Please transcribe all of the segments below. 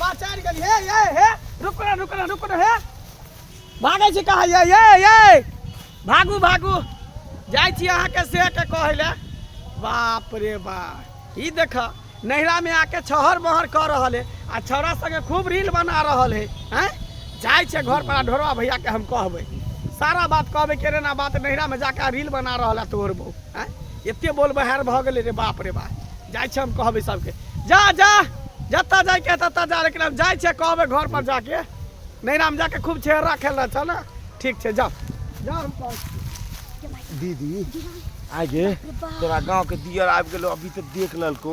पाचार गेली हे ये हे रुक ना रुक ना रुक ना हे भागै छी कहाँ ये ये ये भागू भागू जाइ छी अहाँके से के कहै लए बाप रे बाप ई देख नैहरामे आके छहर महर कऽ रहल है आ छौड़ा सङ्गे खूब रील बना रहल है हैं जाइ छै घर पर ढोरवा भैयाके हम कहबै सारा बात कहबै केरे ना बात नैहरामे जाके रील बना रहल है तोहर बहू आँय एते बोल बहार भऽ गेलै रे बाप रे बाप जाइ छै हम कहबै सबके जा जा जतऽ जाइके है ततऽ जा लेकिन हम जाइ छै कहबै घर पर जाके नैराम जाके खूब छेड़ा खेलना छ ने ठीक छै जाओ जाओ हम कहै छियै। दीदी आगे तोरा गांव के दियर आबि गेलो अभी तक देख ललको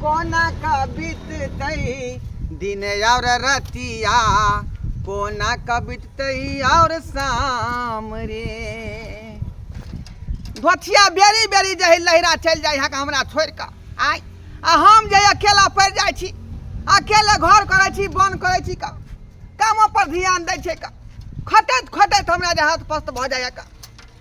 कोना का बीतते दिन और रतिया कोना का बीतते और शाम रे धोथिया बेरी बेरी जही लहरा चल जाए यहाँ हमरा छोड़ कर आय आ हम जे अकेला पड़ जाए छी अकेले घर करे छी बन करे छी का कामो पर ध्यान दे छे का खटत खटत हमरा जे हाथ पस्त भ जाए का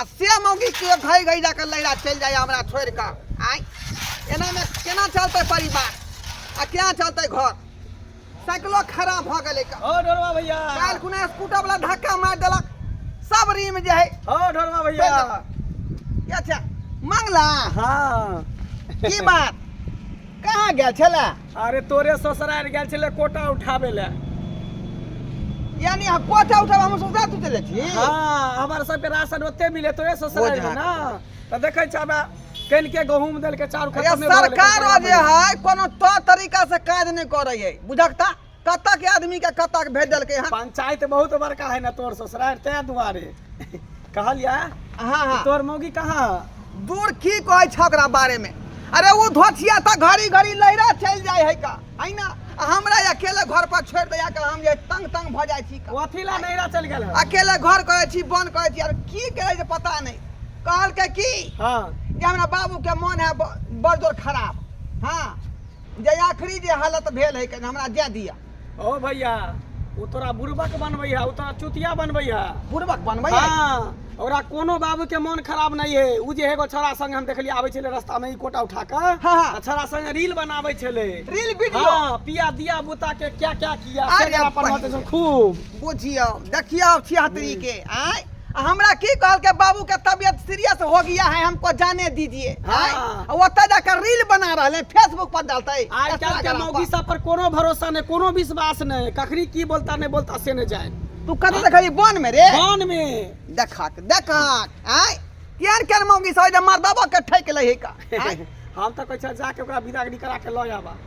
आ से मौगी के घै घै जाके लैला चलि जाइए हमरा छोड़ि कऽ आइ एनामे केना चलतै परिवार आ केना चलतै घर साइकिलो खराब भऽ गेलै कऽ। ओ ढोलवा भैया काल्हि कुने स्कूटर वाला धक्का मारि देलक सब रीम जे है ओ ढोलवा भैया अच्छा मंगला हाँ की बात कहाँ गेल छलै अरे तोरे ससुराल गेल छलै कोटा उठाबे ले यानी हम कोटा उठाब हम ससुराल तू चले छी हाँ हमार सबके राशन ओते मिले तोरे ससुराल ओझा। में ना तो देखे छ बा कन के गहूम देल के चाउर अरे खत्म सरकार जे है कोनो तो तरीका से काज नहीं करे है बुझकता कतऽ के आदमी के कतऽ के भेज देलकै हन पंचायत बहुत बड़का है ना तोर ससुराल तै दुआरे कहलिया हाँ हाँ तोर मौगी कहाँ है? दूर की कहै छ ओकरा बारे में अरे वो धोछिया त घड़ी घड़ी लहरा चल जाय है का है ना आ हमरा अकेले घर पर छोड़ दया का हम जे तंग तंग भ जाय छी का कथी ला नैहरा चल गेल है? अकेले घर करे छी बन करे छी और की करे जे पता नहीं कहल के की हाँ जे हमरा बाबू के मन है ब- बड़ जोर खराब हाँ जे आखिरी जे हालत भेल है कनि हमरा जाय दिया ओ भैया ओ तोरा बुड़बक बनबै है ओ तोरा चुतिया बनबै है बुड़बक बनबै है हाँ ओकरा कोनो बाबू के मन खराब नहीं है ओ जे एगो छोरा संग हम देखलिए आबै छलै रास्ता में ई कोटा उठा के हाँ, हाँ। छोरा संग रील बनाबै छलै रील वीडियो हाँ पिया दिया बुता के क्या क्या किया अरे पर खूब बुझियो देखियो छिहत्तरी के आय आ हमरा की कहलकै बाबू के तबियत सीरियस हो गया है हमको जाने दीजिए हाँ। आय? आ ओतऽ जाकर रील बना रहल है फेसबुक पर डालते आइ काल्हि के इंस्टाग्राम मौगी पर। सब पर कोनो भरोसा नहि कोनो विश्वास नहि कखनी की बोलता नहि बोलता से नहि जाए तू कतऽ देखली बन में रे कान मे देखक देखक आय केहन केहन मौगी सब जे मर्दबो के ठेक लै है का आय? हम तऽ कहै छै जाके ओकरा विदागरी करा के लऽ आबा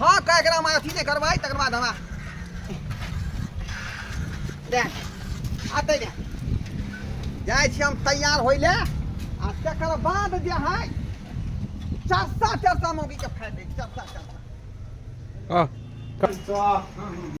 हँ कह एकरा हमरा अथी नहि करबै तकर बाद हमरा दे आते दे जाइ छी हम तैयार होइ ले आ तकर बाद जे है चरसा चरसा मौगी के फायदे चरसा चरसा आ